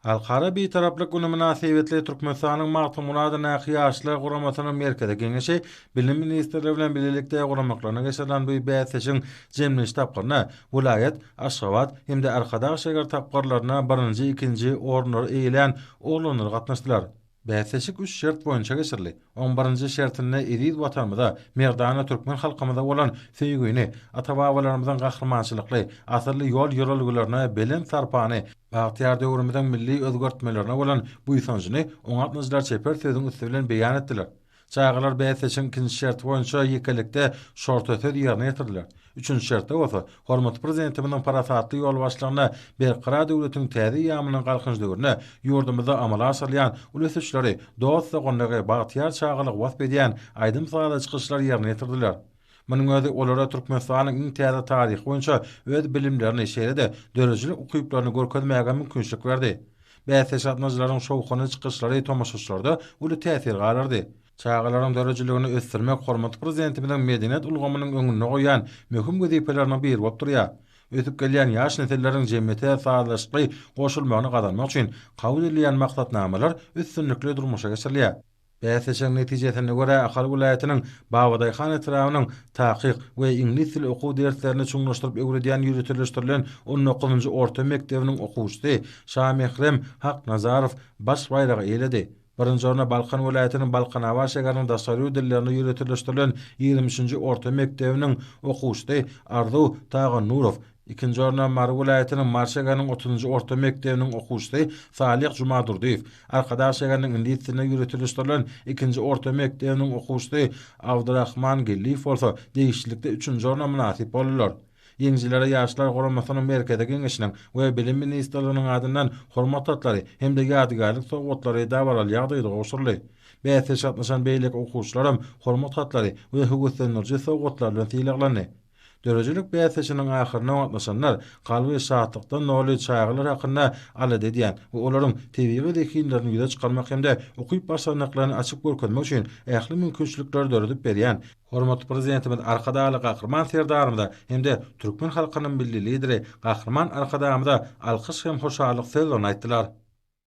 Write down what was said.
Halkara Bitaraplyk güni mynasybetli Türkmenistanyň Magtymgulat Näki Ýaşlar guramasynyň Merkezi Geňeşi Bilim ministrligi bilen bilelikde guramaklygyna geçirilen bu bäsleşigiň jemlenişi tapgyrynda welaýat, Aşgabat hem-de Arkadag şäger tapgyrlarynda birinji, ikinji orunlary eýelän oglanlar gatnaşdylar. Bäsleşik üç şert boýunça geçirildi. Oň birinji şertinde eziz Watanymyza, merdana türkmen halkymyza bolan söýgini, ata-babalarymyzyň gahrymançylykly, asylly ýol-ýörelgelerine belent sarpany, bagtyýar döwrümiziň milli özgertmelerine bolan buýsanjyny oňa gatnaşyjylar çeper sözüň üsti bilen beýan etdiler. Çagalar bäsleşigiň ikinji şerti boýunça ýekelikde şorta söz ýerine ýetirdiler. Üçünji şertde bolsa, hormatly Prezidentimiziň parasatly ýolbaşçylygynda Berkarar döwletiň täze eýýamynyň Galkynyş döwründe ýurdumyzda amala aşyrylýan uly ösüşleri, dost-doganlygy, bagtyýar çagalygy wasp edýän aýdym-sazly çykyşlar ýerine ýetirdiler. Munuň özi olara Türkmenistanyň iň täze taryhy boýunça öz bilimlerini, şeýle-de döredijilik ukyplaryny görkezmäge mümkinçilik berdi. Bäsleşik gatnaşyjylaryň şowhunly çykyşlary tomaşaçylarda uly täsir galdyrdy. Çagalaryň döredijiligini ösdürmek hormatly Prezidentimiziň medeniýet ulgamynyň öňünde goýýan möhüm wezipeleriniň biri bolup durýar. Ösüp gelýän ýaş nesilleriň jemgyýete sazlaşykly goşulmagyny gazanmak üçin kabul edilýän maksatnamalar üstünlikli durmuşa geçirilýär. Bäsleşigiň netijesine görä Ahal welaýatynyň Babadaýhan etrabynyň Takyk we iňlis dili okuw derslerini çuňlaşdyryp öwredýän ýöriteleşdirilen on dokuzynjy orta mekdebiniň okuwçysy Şamährem Haknazarow baş baýragy eýeledi. Birinji orna Balkan welaýatynyň Balkanabat şäheriniň daşary ýurt dillerine ýöriteleşdirilen ýigrimi üçünji orta mekdebiniň okuwçysy Arzuw Tagannurow, Ikinji orna Mary welaýatynyň Mary şägeriniň otuzynjy orta mekdebiniň okuwçysy Salyh Jumadurdyýew, Arkadag şägeriniň iňlis dilinde ýöretilişdirilen ikinji orta mekdebiniň okuwçysy Abdyrahman Gelliýew bolsa degişlilikde üçünji orna mynasyp boldular. Ýeňijilere Ýaşlar guramasynyň Merkezi Geňeşiniň we Bilim ministrliginiň adyndan Hormat hatlary hem-de ýadygärlik sowgatlary dabaraly ýagdaýda gowşuryldy. Bäsleşige gatnaşan beýleki okuwçylaram Hormat hatlary we höweslendiriji sowgatlar bilen sylaglandy. Döredijilik bäsleşiginiň ahyryna gatnaşanlar kalby şatlykdan doly çagalar hakynda alada edýän we olaryň tebigy zehinlerini ýüze çykarmak hem-de ukyp-başarnyklaryny açyp görkezmek üçin ähli mümkinçilikleri döredip berýän hormatly Prezidentimiz Arkadagly Gahryman Serdarymyza hem-de türkmen halkynyň Milli Lideri Gahryman Arkadagymyza alkyş hem hoşallyk sözlerini aýtdylar.